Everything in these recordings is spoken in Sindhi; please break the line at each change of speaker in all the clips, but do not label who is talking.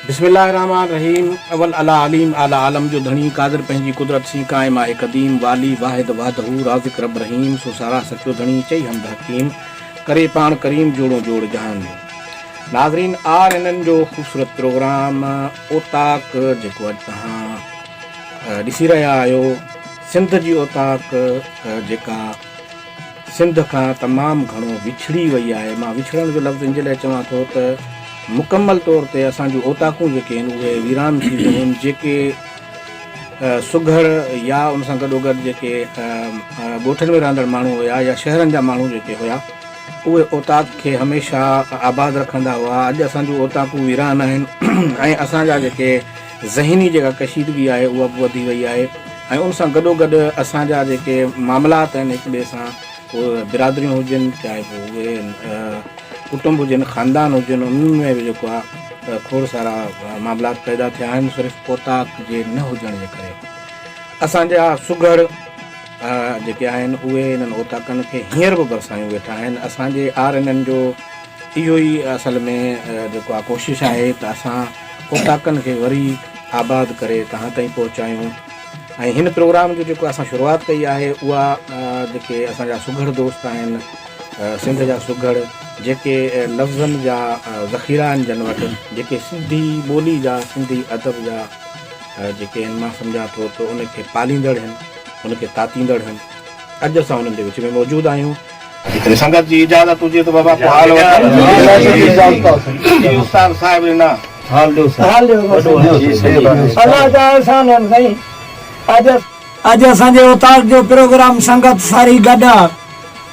بسم الله الرحمٰن الرحيم اول اعلٰي عليم اعلٰي عالم جو ڌڻي قادر پنهنجي قدرت سين قائم آهي قديم والي واحد وحده رازق رب رحيم سو ساراه سچو ڌڻي چئي حمد حڪيم ڪري پاڻ ڪريم جوڙون جوڙ جهان جو ناظرين آر اين اين جو خوبصورت پروگرام اوطاق جيڪو اڄ تهان ڏسي رهيا آهيو سنڌ جي اوطاق جيڪا سنڌ کان تمام گهڻو وڇڙي وئي آهي مان وڇڙڻ جو لفظ انجي لاء چوان ٿو ته مڪمل طور تي اسان جون اوطاقون جيڪي آهن اهي ويران ٿي ويون آهن جيڪي سگهڙ يا ان سان گڏوگڏ جيڪي ڳوٺن ۾ رهندڙ ماڻهو هيا يا شهرن جا ماڻهو جيڪي هيا اهي اوطاق کي هميشه آباد رکندا هئا اڄ اسان جون اوطاقون ويران آهن ۽ اسان جا جيڪي ذهني جيڪا ڪشيدگي آهي اها به وڌي وئي آهي ۽ ان سان گڏوگڏ اسان جا جيڪي معاملات آهن هڪ ٻئي سان اهي برادريون هجن چاهي پوء اهي ڪٽنب هجن خاندان هجن انهن ۾ به جيڪو آهي کوڙ سارا معاملات پيدا ٿيا آهن صرف پوتاڪ جي نه هجڻ جي ڪري اسان جا سگهڙ جيڪي آهن اهي انهن اوتاڪن کي هينئر به برسايون ويٺا آهن اسان جي آر اين اين جو اهو ئي اصل ۾ جيڪو آ ڪوشش آهي ته اسان اوطاقن کي وري آباد ڪري توهان تائين پهچايون ۽ هن پروگرام جو جيڪو اسان شروعات ڪئي آهي اها جيڪي اسان جا سگهڙ دوست آهن سنڌ جا سگهڙ جيڪي لفظن جا ذخيرا آهن جن وٽ جيڪي سنڌي ٻولي جا سنڌي ادب جا جيڪي آهن مان سمجهان ٿو ته ان کي پاليندڙ آهن ان کي تاتيندڙ آهن اڄ اسان انهن جي وچ ۾ موجود آهيون جيڪڏهن سنگت جي اجازت هجي ته بابا ڪو حال وٺان. استاد صاحب ڏنا.
حال ڏيو سائين. الله جا احسان آهن سائين. اڄ اسان جي اوطاق جو پروگرام سنگت ساري گڏ آ.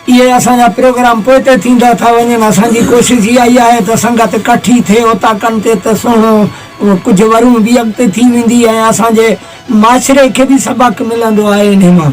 اهي اسان جا پروگرام پوئتي ٿيندا ٿا وڃن. اسان جي ڪوشش اها ئي آهي ته سنگت ڪٺي ٿئي اوطاقن تي ته سهڻو ڪجهه ورون به اڳتي ٿي ويندي ۽ اسان جي معاشري کي به سبق ملندو آهي انهي مان.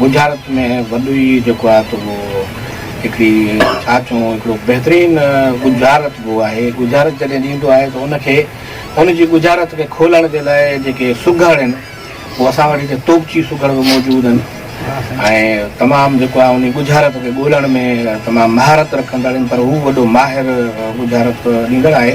ڳجهارت ۾ وڏو ئي جيڪو آهي ته اهو هڪڙي ڇا چئون هڪڙو بهترين ڳجهارت به آهي. ڳجهارت جڏهن ڏيندو آهي ته ان کي ان جي ڳجهارت کي کولڻ جي لاء جيڪي سگهڙ آهن اهو اسان وٽ هتي توبچي سگهڙ به موجود آهن ۽ تمام جيڪو آهي انهي ڳجهارت کي ڳولڻ ۾ تمام مهارت رکندڙ آهن پر هو وڏو ماهر ڳجهارت ڏيندڙ آهي.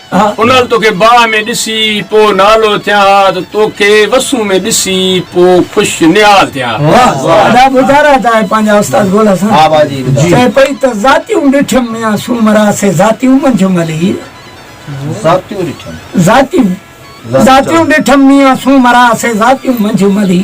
انهن توکي باهه ۾ ڏسي پوء نالو ٿيان ها ته توکي وسون ۾ ڏسي پوء خوش نهال ٿيان ها. واهه ادا ٻڌا
رهه تانهين پنهنجا استاد ڳولا سان چئي پئي ته ذاتيون ڏٺيم ميان سومرا سي ذاتيون منجهه ملهي ذاتيون ڏٺيم ذاتيون ذاتيون ڏٺيم ميان سومرا سي ذاتيون منجهه ملهي.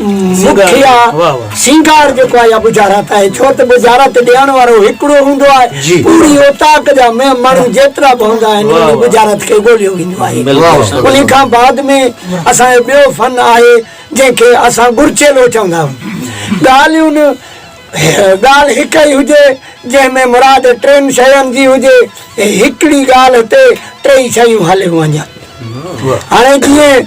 مکيه سينگار جيڪو آهي يا ٻجهارات آهي ڇو ته ٻجهارات ڏيڻ وارو هڪڙو هوندو آهي پوري اوطاق جا ماڻهو جيترا به هوندا آهن انهن جي ٻجهارات کي ڳوليو ويندو آهي انهي کان بعد ۾ اسان جو ٻيو فن آهي جنهن کي اسان ڳرچيلو چوندا آهيون ڳالهيون ڳالهه هڪ ئي هجي جنهن ۾ مراد ٽن شين جي هجي هڪڙي ڳالهه تي ٽيئي شيون هليون وڃن هاڻي جيئن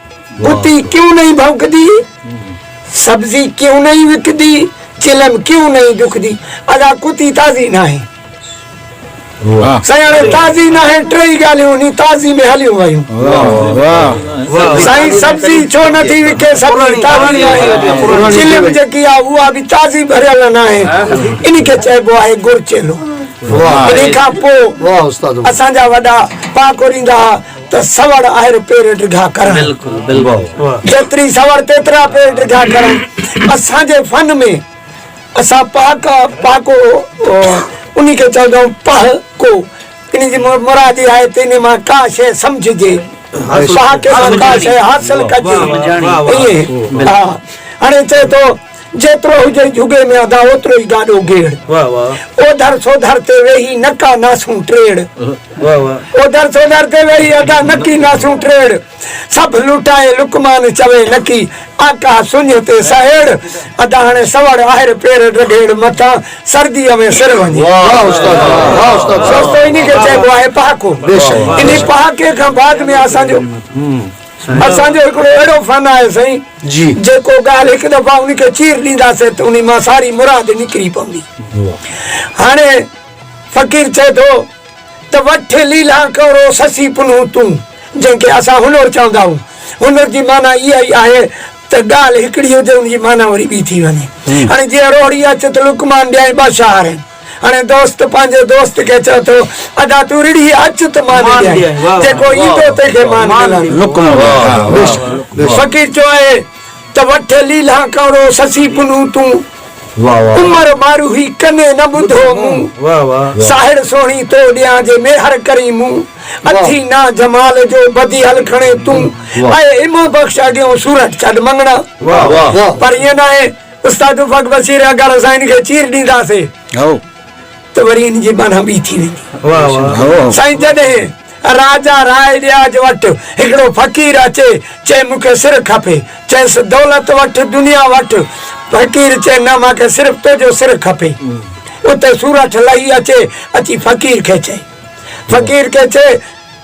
گتي ڪيون نئي ڀونڪدي، سبزي ڪيون نئي وڪدي، چلم ڪيون نئي ڏکدي، ادا ڪتي تازي ناهي. سائين هاڻي تازي ناهي ٽيئي ڳالهيون انهي تازي ۾ هليون ويون. سائين سبزي ڇو نه ٿي وڪي سبزي تازي ناهي، چلم جيڪي آ اها به تازي ڀريل ناهي، انهي کي چئبو آهي ڳڙ چيلو. انهي کان پوء اسان جا وڏا پاڪوريندا ها. ته سوڙ آهر پير ڊگها ڪرڻ. بلڪل بلڪل. جيتري سوڙ تيترا پير ڊگها ڪرڻ. اسان جي فن ۾ اسان پهاڪا، پهاڪو، انهي کي چوندا آهيون پهه ڪو. ان جي مراد اها آهي ته انهي مان ڪا شيء سمجهجي. پهاڪي مان ڪا شيء حاصل ڪجي. ائين. هاڻي چئي ٿو. جيترو هجئي جهڳي ۾ ادا اوترو ئي گاڏو گيڙ. اوڌر سوڌر تي ويهي نڪا ناسون ٽيڙ. اوڌر سوڌر تي ويهي ادا نڪي ناسون ٽيڙ. سڀ لٽائي لقمان چوي نڪي آقا سڃ تي سهيڙ. ادا هڻي سوڙ آهر پير ڊگهيڙ مٿان سرديء ۾ سر وڃي. سستو انهي کي چئبو آهي پهاڪو. انهي پهاڪي کان بعد ۾ اسان جو. اسان جو هڪڙو اهڙو فن آهي سائين جيڪو ڳالهه هڪ دفعا ان کي چير ڏينداسين ته ان مان ساري مراد نڪري پوندي هاڻي فقير چئي ٿو ته وٺ ليلا ڪورو سسي پنهون تون جنهن کي اسان هنر چوندا آهيون هنر جي معنيٰ اها ئي آهي ته ڳالهه هڪڙي هجي ان جي معنيٰ وري ٻي ٿي وڃي هاڻي جيئن روهڙي اچ ته لقمان ڏيانء ٻه شعر آهن. هاڻي دوست پنهنجي دوست کي چئي ٿو، ادا تون رڙهي اچ ته مان نه ڏيانء، جيڪو ايندو تنهن کي مان ملندس. فقير چوئي ته وٺ ليلهان ڪئورو سسي پنهون تون، عمر ماروهي ڪني نه ٻڌو مون، ساهڙ سهڻي تو ڏيان جي ميهر ڪرين مون، اٿي نا جمال جو بديهل کڻي تون، اي امام بخش اڳيون سورٺ ڇڏ مڱڻا. پر ائين ناهي. استاد افق بصير اگر اسان ان کي چير ڏينداسين هائو ته وري ان جي معنيٰ ٻي ٿي ويندي واهه واهه هائو هائو سائين جڏهن راجا راء ڏياج وٽ هڪڙو فقير اچي چئي مون کي سر کپي چئس دولت وٺ دنيا وٺ فقير چئي نه مان کي صرف تنهنجو سر کپي اتي سورٺ لهي اچي اچي فقير کي چئي فقير کي چئي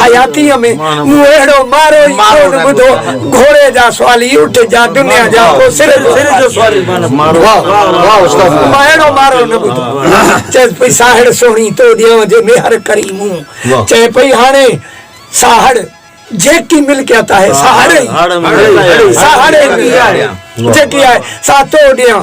حياتيء ۾ مون اهڙو مارو ئي ڪونه ٻڌو، گهوڙي جا سوالي، اٺ جا، دنيا جا، پوء سر جو سوالي. مان اهڙو مارو نه ٻڌو. چيس پئي ساهڙ سهڻي تو ڏينهن جي ميهر ڪري مون چئي پئي هاڻي ساهڙ جيڪي ملڪيت آهي ساهڙ ئي ساهڙ ئي جيڪي آهي سا تو ڏيان.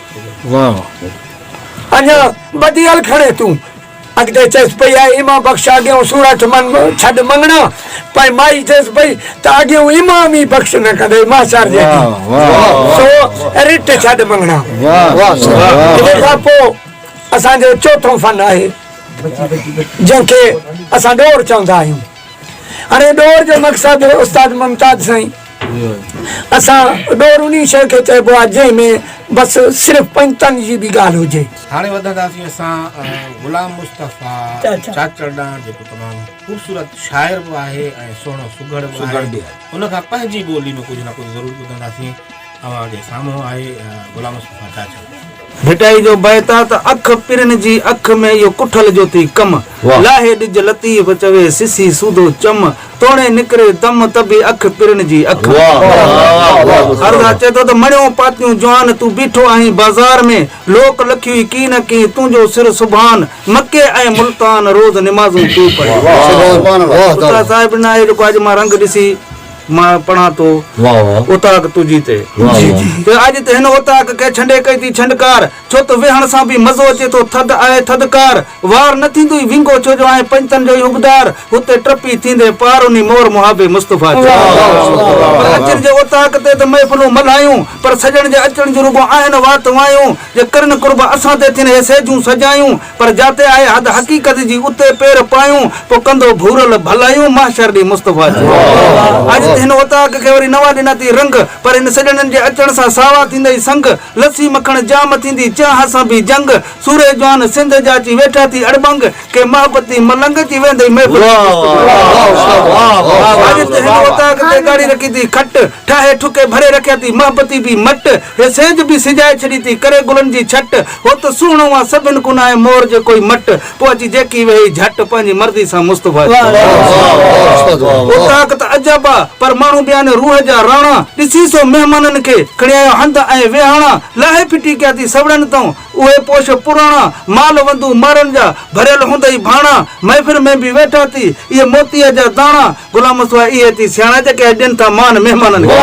اڃا ٻڌي هل کڻي تون. اڳتي چيس پئي آء ايمان بخش آگيئون سورٺ من ڇڏ مڱڻا. پنهنجي مائي چيس پئي ته آگيئون ايمان ئي بخش نه ڪندئي ماسار جيڏي. سو رٽ ڇڏ مڱڻا. ان کان پوء اسان جو چوٿون فن آهي جنهن کي اسان ڏور چوندا آهيون. هاڻي ڏور جو مقصد استاد ممتاز سائين. اسان ڏور انهي شيء کي چئبو آهي جنهن ۾ بس صرف پنجتن جي به ڳالهه هجي. هاڻي وڌنداسين
اسان غلام مصطفيٰ چاچڙ ڏانهن جيڪو تمام خوبصورت شاعر به آهي ۽ سهڻو سگهڙ به آهي ان کان پنهنجي ٻولي ۾ ڪجهه نه ڪجهه ضرور ٻڌنداسين اوهان جي سامهون آهي غلام مصطفيٰ چاچڙ. ڀٽائي جو
بيت آ ته اک پرن جي اک ۾ اهو ڪٺل جو ٿي ڪم واھ. لاهي ڏج لطيف چوي سسي سودو چم توڻي نڪري دم ته به اک پرن جي اک ۾. عرض اچي ٿو ته مڻيون پاتيون جوان تون بيٺو آهين بازار ۾ لوڪ لکيوئي ڪي نه ڪي تنهنجو سر سبحان مڪي ۽ ملتان روز نمازون تون پڙهي. استاد صاحب نه آهي جيڪو اڄ مان رنگ ڏسي. مان پڙهان ٿو اوطاق تنهنجي تي. ته اڄ ته هن اوطاق کي ڇنڊي ڪئي ٿي ڇنڊڪار. ڇو ته ويهڻ سان به مزو اچي ٿو ٿڌ آهي ٿڌڪار. وار نه ٿيندو ئي وينگو ڇو جو آهين پنجتن جو ئي حقدار. هتي ٽپي ٿيندين پار انهي مور محابي مصطفيٰ تي. پر اچن جي اوطاق تي ته محفلون ملهايون. پر سڄڻ جي اچڻ جون رڳو آهن وات وايون. جي ڪرن قرب اسان تي ٿين هي سيجون سجايون. پر جاتي آهي حد حقيقت جي اتي پير پايون پوء ڪندو ڀورل ڀلايون محشر ڏينهن مصطفيٰ جي اڄ ته هن اوطاق کي وري نوان ڏنا ٿي رنگ پر هن سڄڻن جي اچڻ سان ساوا ٿيندئي سنگ لسي مکڻ جام ٿيندي چيانهن سان به جنگ سورهيه جوان سنڌ جا اچي ويٺا ٿي اڙٻنگ ڪي محبتي ملنگ اچي ويندئي محفل جي مصطفيٰ جي اڄ ته هن اوطاق تي ڳاڙهي رکي ٿي کٽ. ٺاهي ٺڪي ڀري رکيا ٿي محبتي بي مٽ هي سيج بي سجائي ڇڏي ٿي ڪري گلن جي ڇٽ هو ته سهڻو آ سڀن کون آهي مور جي ڪوئي مٽ پوء اچي جيڪي ويهي جهٽ پنهنجي مرضي سان مصطفيٰ جي هو طاقت عجب آ پر ماڻهو به آهن روح جا راڻا ڏسي سو مهمانن کي کڻي آيو هنڌ ۽ ويهاڻا لاهي ڦٽي ڪيا ٿي سوڙهن تئون اهي پوش پراڻا مال وندون مارن جا ڀريل هوندئي ڀاڻا محفل ۾ به ويٺا ٿي اهي موتيء جا داڻا غلام مصطفيٰ اهي ٿي سياڻا جيڪي اڄ ڏين ٿا مان مهمانن کي.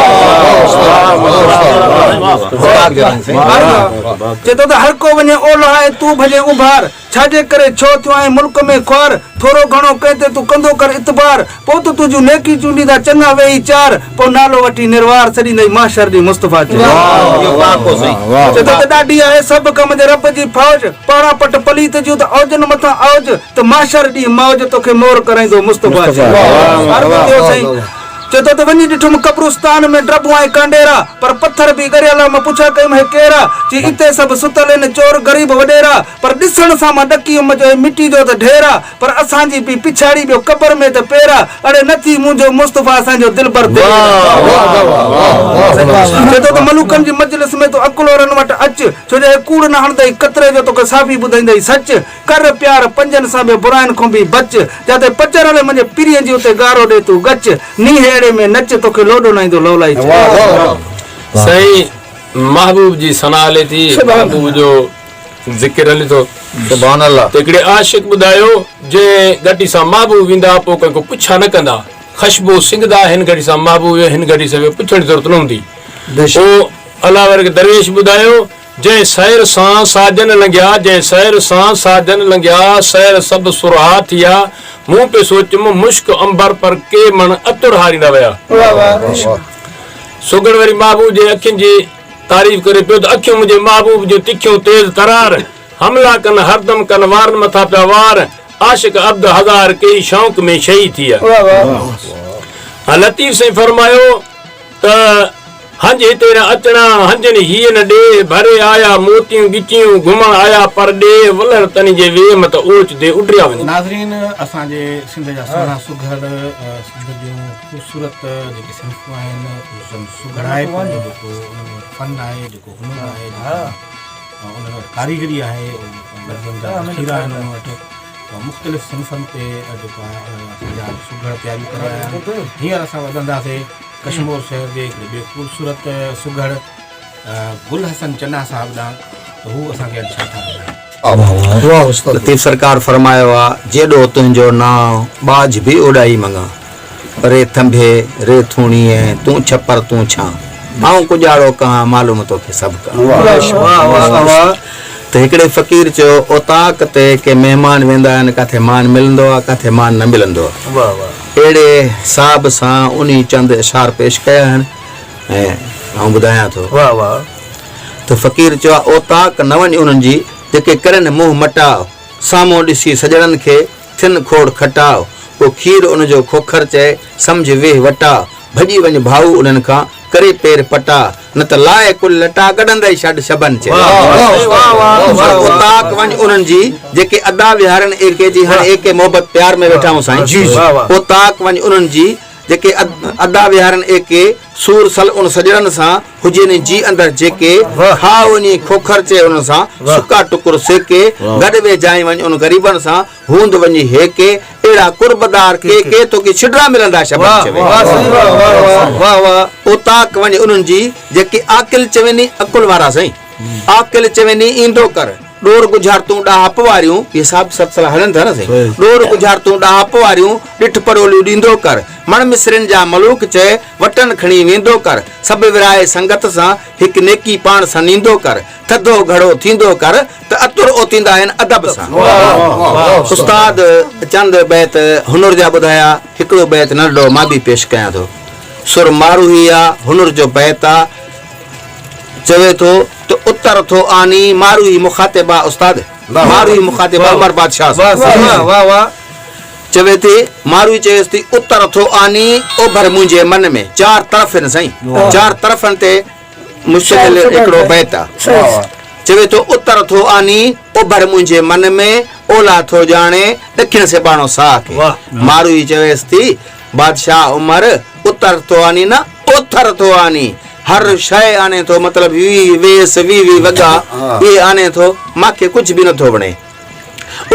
چئي ٿو ته هر ڪو وڃي اولهه ۽ تون ڀڄين اوڀار ڇاجي ڪري ڇو ٿيو آهين ملڪ ۾ خوار ٿورو گهڻو ڪنهن تي تون ڪندو ڪر اعتبار پوء ته تنهنجون نيڪي چونڊيندا چڱا ويهي چار پوء نالو وٺي نروار سڏيندئي محشر ڏينهن مصطفيٰ چئي ٿو ته ڏاڍي آهي سڀ ڪم جي رب جي فوج پاڙا پٽ پليت جون ته اوجن مٿان اوج ته محشر ڏينهن موج توکي مور ڪرائيندو مصطفيٰ چئي عرض ڪيو سائين چئي ٿو ته وڃي ڏٺم قبرستان ۾ ڊڀون ۽ ڪانڊيرا پر پٿر به ڳريلا مان پڇا ڪيم هي ڪيرا چئي اتي سڀ ستل هن چور غريب وڏيرا پر ڏسڻ سان مان ڏڪي ويم جو هي مٽي جو ته ڍير آ پر اسان جي پي پڇاڙي ٻيو قبر ۾ ته پيرا اڙي نه ٿي منهنجو مصطفيٰ اسان جو دلبر دلير آ چئي ٿو ته ملوڪن جي مجلس ۾ تون عقلورن وٽ اچ ڇو جو هي ڪوڙ نه هڻندئي قطري جو توکي صافي ٻڌائيندئي سچ ڪر پيار پنجن سان به براين کون به بچ جاتي پچ رلي منھنجي پرين جي اتي گارو ڏي تون ڳچ نينھن اھڙي ۾ نچ توکي لوڏو نه ايندو لولائي چ.
سائين محبوب جي ثنا ھلي ٿي محبوب جو ذڪر ھلي ٿو ته ھڪڙي عاشق ٻڌايو جنھن گھٽي سان محبوب ويندا پوء ڪنھن کون پڇا نه ڪندا خشبو سنگھدا ھن گھٽي سان محبوب ويو ھن گھٽي سان ويو پڇڻ جي ضرورت نه ھوندي پوء الاورڪ درويش ٻڌايو جنهن سحر سان ساجن لنگهيا، جنهن سحر سان ساجن لنگهيا، سحر سڀ سرها ٿيا، مون پئي سوچيم مشڪ عنبر پر ڪي مڻ عطر هاريندا ويا. سگهڙ وري محبوب جي اکين جي تعريف ڪري پيو ته اکيون منهنجي محبوب جون تکيون تيز ترار، حملا ڪن هردم ڪن وارن مٿان پيا وار، عاشق عبد هزار ڪيئي شوق ۾ شهي ٿيا. لطيف سائين فرمايو. ته هنج هتي نه اچڻا، هنجن هيء نه ڏيهه، ڀري آيا موتيون ڳچيون، گهمڻ آيا پر ڏيهه، ولر تني جي ويهه مت اوچ دي اڊريا وڃي. ناظرين اسان جي
سنڌ جا سهڻا سگهڙ سنڌ جون خوبصورت جيڪي صنفون آهن سن سگهڙائپ جو جيڪو ان ۾ فن آهي جيڪو هنر آهي جيڪا ان ۾ ڪاريگري آهي ان لفظن جا ذخيرا آهن ان وٽ ته مختلف صنفن تي جيڪا اسان جا سگهڙ تياريون ڪري آيا آهن هينئر اسان وڌنداسي ڪشمور شهر جي هڪڙي ٻئي خوبصورت، سگهڙ گل حسن چنا صاحب ڏانهن ته هو اسان کي اڄ ڇا ٿا ٻڌائين. لطيف سرڪار
فرمايو آ، جيڏو تنهنجو نانء ٻاجهه به اوڏائي مڱان. ري ٿنڀي، ري ٿوڻيء، تون ڇپر، تون ڇان. آئون ڪڄاڙو ڪهان، معلوم توکي سڀ ڪا. ته هڪڙي فقير چيو، اوطاق تي ڪي مهمان ويندا آهن، ڪاٿي مان ملندو آ، ڪاٿي مان نه ملندو آ. اهڙي حساب سان انهي چند اشعار پيش ڪيا آهن ۽ آئون ٻڌايان ٿو. واهه واهه ته فقير چيو آهي اوطاق نه وڃ انهن جي جيڪي ڪرين منهن مٽاء سامهون ڏسي سڄڻن کي ٿين کوڙ کٽاء ڪو کير ان جو کوکر چئي سمجهه ويهه وٽاء ڀڄي وڃ ڀائو انهن کان ڪري پير پٽاء نه ته لاء ڪل لٽا ڪڍندء شڍ شبن چئي. پر اوطاق وڃ انهن جي، جيڪي ادا ويهارين ايڪي جي هاڻ ايڪي محبت پيار ۾ ويٺا هون سائين. اوطاق وڃ انهن جي، جيڪي ادا ويهارين ايڪي سور سل ان سڄڻن سان، هجي ني جي اندر جيڪي کاء انهيء کوکر چئي انهن سان، سڪا ٽڪر سيڪي گڏ ويجهائين وڃ ان غريبن سان، هوند وڃي هي ڪي اهڙا قرب دار ڪي ڪي توکي ڇڊرا ملندا شبر چوي واه سائين واه واه واه واه واه اوطاق وڃ انهن جي جيڪي عاقل چويني عقل وارا سائين عاقل چويني ايندو ڪر ڏور ڳجهارتون ڏاهپ واريون اهي صاحب سلسلا هلن ٿا نه سائين ڏور ڳجهارتون ڏاهپ واريون ڏٺ پروليون ڏيندو ڪر مڻ مصرين جا ملوڪ چئي وٽن کڻي ويندو ڪر سڀ ورهائي سنگت سان هڪ نيڪي پاڻ سان نيندو ڪر ٿڌو گهڙو ٿيندو ڪر ته اتر اوتيندا آهن ادب سان. استاد چند بيت هنر جا ٻڌايا، هڪڙو بيت ننڍڙو مان به پيش ڪيان ٿو. سر ماروهي آ، هنر جو بيت آ، چوي ٿو ته اتر ٿو آني ماروهي مخاطب آ استاد، ماروهي مخاطب آ عمر بادشاهه سان. چوي ٿي، ماروهي چيس ٿي اتر ٿو آني اوڀر منهنجي من ۾، چار طرف هن سائين، چار طرفن تي، مشڪل هڪڙو بيت آ. چوي ٿو اتر ٿو آني اوڀر منهنجي من ۾، اولهه ٿو ڄاڻي ڏکڻ سيباڻو ساهه کي. ماروئي چويس ٿي، بادشاهه عمر اتر ٿو آني نه اوٿر ٿو آني. هر شيء آني ٿو مطلب ويهي ويس ويهي وڳا اهي آني ٿو مان کي ڪجهه به نٿو وڻي.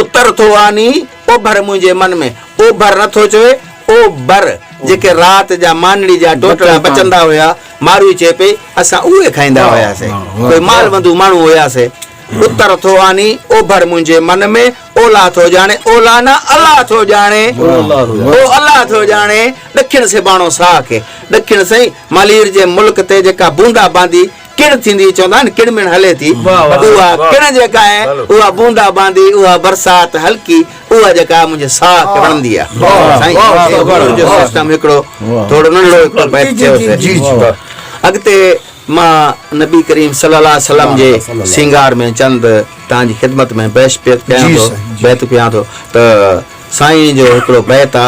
اتر ٿو آني اوڀر منهنجي من ۾، اوڀر نٿو چوي اوڀر جيڪي رات جا مانڙي جا ٽوٽڙا بچندا هيا، ماروئي چئي پئي، اسان اهي کائيندا هياسين. ڪوئي مال وندو ماڻهو هياسين. اتر ٿو آني اوڀر منهنجي من ۾، اولهه ٿو ڄاڻي اولهه نه الله ٿو ڄاڻي، او الله ٿو ڄاڻي، ڏکڻ سيباڻو ساهه کي، ڏکڻ سائين مالهير جي ملڪ تي جيڪا بوندا باندي ڪڻ ٿيندي، چوندا آهن ڪڻ مڻ هلي ٿي، اها ڪڻ جيڪا آهي، اها بوندا باندي، اها برسات هلڪي، اها جيڪا منهنجي ساهه ڪڙهندي آ سائين اهو جو سسٽم هڪڙو ٿورو ننڍو هڪڙو بيت چيوسي اڳتي مان نبي ڪريم صلي الله عليه وسلم جي سينگار ۾ چند تان جي خدمت ۾ بيش پيت ڪيان ٿو بيت پيان ٿو ته سائين جو هڪڙو بيت آ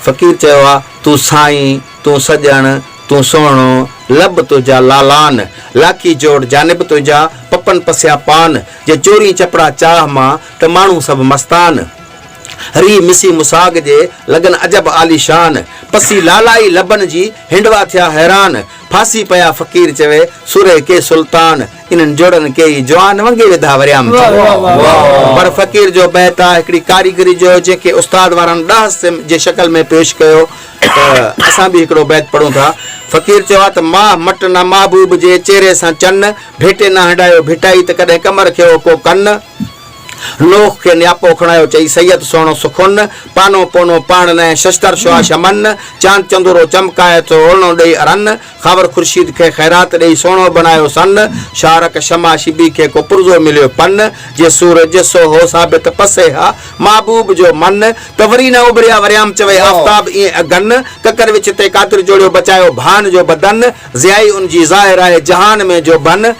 فقير چيو آ تون سائين تون سڄڻ تون سهڻو لب تنهنجا لالان لاکي جوڙ جانب تنهنجا پپن پسيا پان جي چورين چپڙا چاهه مان ته ماڻهو سڀ مستان. ريء مسي مساڳ جي، لڳن عجب عاليشان. پسي لالائي لبن جي، هنڊوا ٿيا حيران. ڦاسي پيا فقير چوي، سورهيه ڪي سلطان. انهن جوڙن ڪيئي جوان، ونگي وڌا وريام ٿي. پر فقير جو بيت آ هڪڙي ڪاريگري جو، جنهن کي استاد وارن ڏاهه سم جي شڪل ۾ پيش ڪيو ته اسان به هڪڙو بيت پڙهون ٿا. فقير چيو آ ته، ماهه مٽ نه محبوب جي، چهري سان چن. ڀيٽي نه هنڊايو ڀٽائي، ته ڪڏهن ڪمر کي هو ڪو ڪن. لوڪ کي نياپو کڻايو چئي سيد سهڻو سخن، پانو پونو پاڻ نه ۽ ششتر شعاع شمن، چاند چندورو چمڪائي ٿو اورڻو ڏيئي ارن، خاور خورشيد کي خيرات ڏيئي سهڻو بڻايو سن، شارڪ شمع شبي کي ڪو پرزو مليو پن، جي سورج سو هو ثابت پسي ها محبوب جو من، ته وري نه اڀريا وريام چوي آفتاب ائين اگن، ڪڪر وچ تي قادر جوڙيو بچايو ڀان جو بدن، ضيائي ان جي ظاهر آهي جهان ۾ جو بن،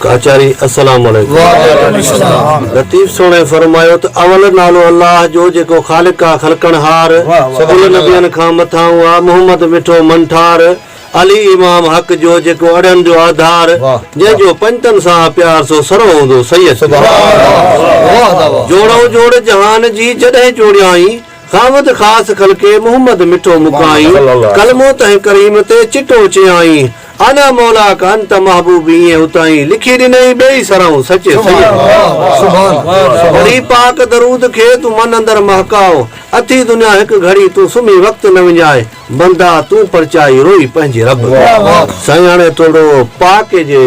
ڪاچاري،
السلام عليڪم. وعليڪم السلام. لطيف سهڻي فرمايو ته اول نالو الله جو جيڪو خالق آ خلقڻهار، ڪل نبين کان مٿانهون آ محمد مٺو منٺار، علي امام حق جو جيڪو اڙهن جو آڌار، جنهن جو پنجتن سان آ پيار سو سرهو هوندو سيد جو. جوڙئون جوڙ جهان جي جڏهن جوڙيائين. خاوند خاص خلقي محمد مٺو مکائين، ڪلمو تنهن ڪريم تي چٽو چيائين، انا مولاڪ انت محبوبي ائين اتائين لکي ڏنئي ٻئي سرهون سچي سيد وري پاڪ درود کي تون من اندر مهڪاء اٿي دنيا هڪ گهڙي تون سمهي وقت نه وڃاء بندا تون پرچائي روئي پنهنجي رب سائين هاڻي ٿورڙو پاڪي جي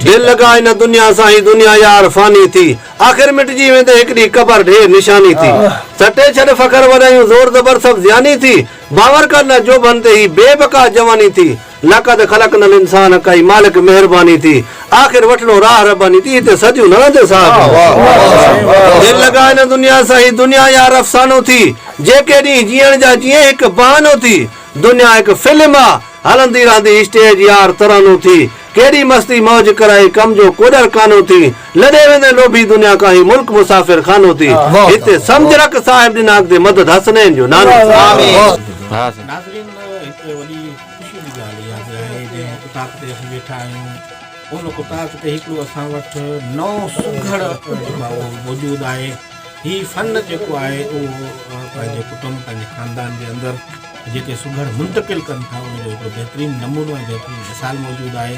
دل لڳائي نه دنيا سان هي دنيا يار فاني ٿي. آخر مٽجي ويندي هڪ ڏينهن قبر ڍير نشاني ٿي سٽي ڇڏ فخر وڏايون زور زبر سڀ زياني ٿي باور ڪر نه جوڀن تي هي بي بقا جواني ٿي لقد خلقنا الانسان ڪئي مالڪ مهرباني ٿي آخر وٺڻو راهه رباني ٿي هتي صديون نه رهندي صاحب دل لڳا هن دنيا سان هي دنيا يار افسانو ٿي جيڪي ڏينهن جيئڻ جا جيئي هڪ بهانو ٿي دنيا هڪ فلم آ هلندي رهندي اسٽيج يار ترانو ٿي ڪيڏي مستي موج ڪرائي ڪم جو ڪوڏر ڪانو ٿي لڏي ويندي لوڀي دنيا ڪاهي ملڪ مسافر خانو ٿي هتي سمجھ رک صاحب ڏنا اڳتي مدد حسنين جو نانو ٿي. ناظرين هڪ وڏي
خوشي جي ڳالهه اها به آهي جنهن اتاق تي اسين ويٺا آهيون ان اتاق تي هڪڙو اسان وٽ نئون سگهڙ جيڪو آهي اهو موجود آهي هي فن جيڪو آهي اهو پنهنجي ڪٽنب پنهنجي خاندان جي اندر جيڪي سگهڙ منتقل ڪن ٿا ان جو هڪڙو بهترين نمونو ۽ بهترين مثال موجود آهي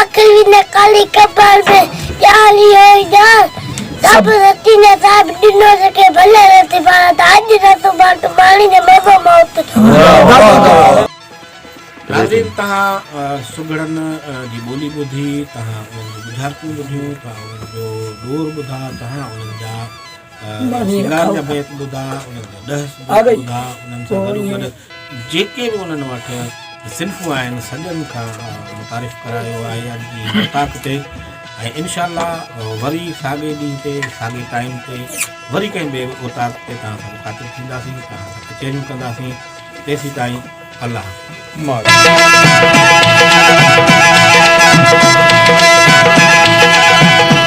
آخر وي نه ڪالي قبر ۾ ڄار ئي هو ئي ڄار سڀ رتي نه صاحب ڏنو جي کي ڀلي رتي پاڻ ته اڄ نه سڀان ٽو ماڻي جو مزو موت جو. ناظرين
تهان سگهڙن جي ٻولي ٻڌي، تهان انهن جون ٻجهارتون ٻڌيون، تهان انهن جو ڏور ٻڌا، تهان انهن جا سينگار جا بيت ٻڌا، انهن جا ڏهس ٻڌا، انهن سان گڏوگڏ جيڪي به انهن وٽ صنفون آهن سڄن کان متعارف ڪرايو آهي اڄ جي اوطاق تي ۽ انشاء الله وري ساڳي ڏينهن تي ساڳي ٽائيم تي وري ڪنهن ٻئي اوطاق تي توهان سان مخاطب ٿينداسين توهان سان ڪچهريون ڪنداسين تيسين تائين الله حافظ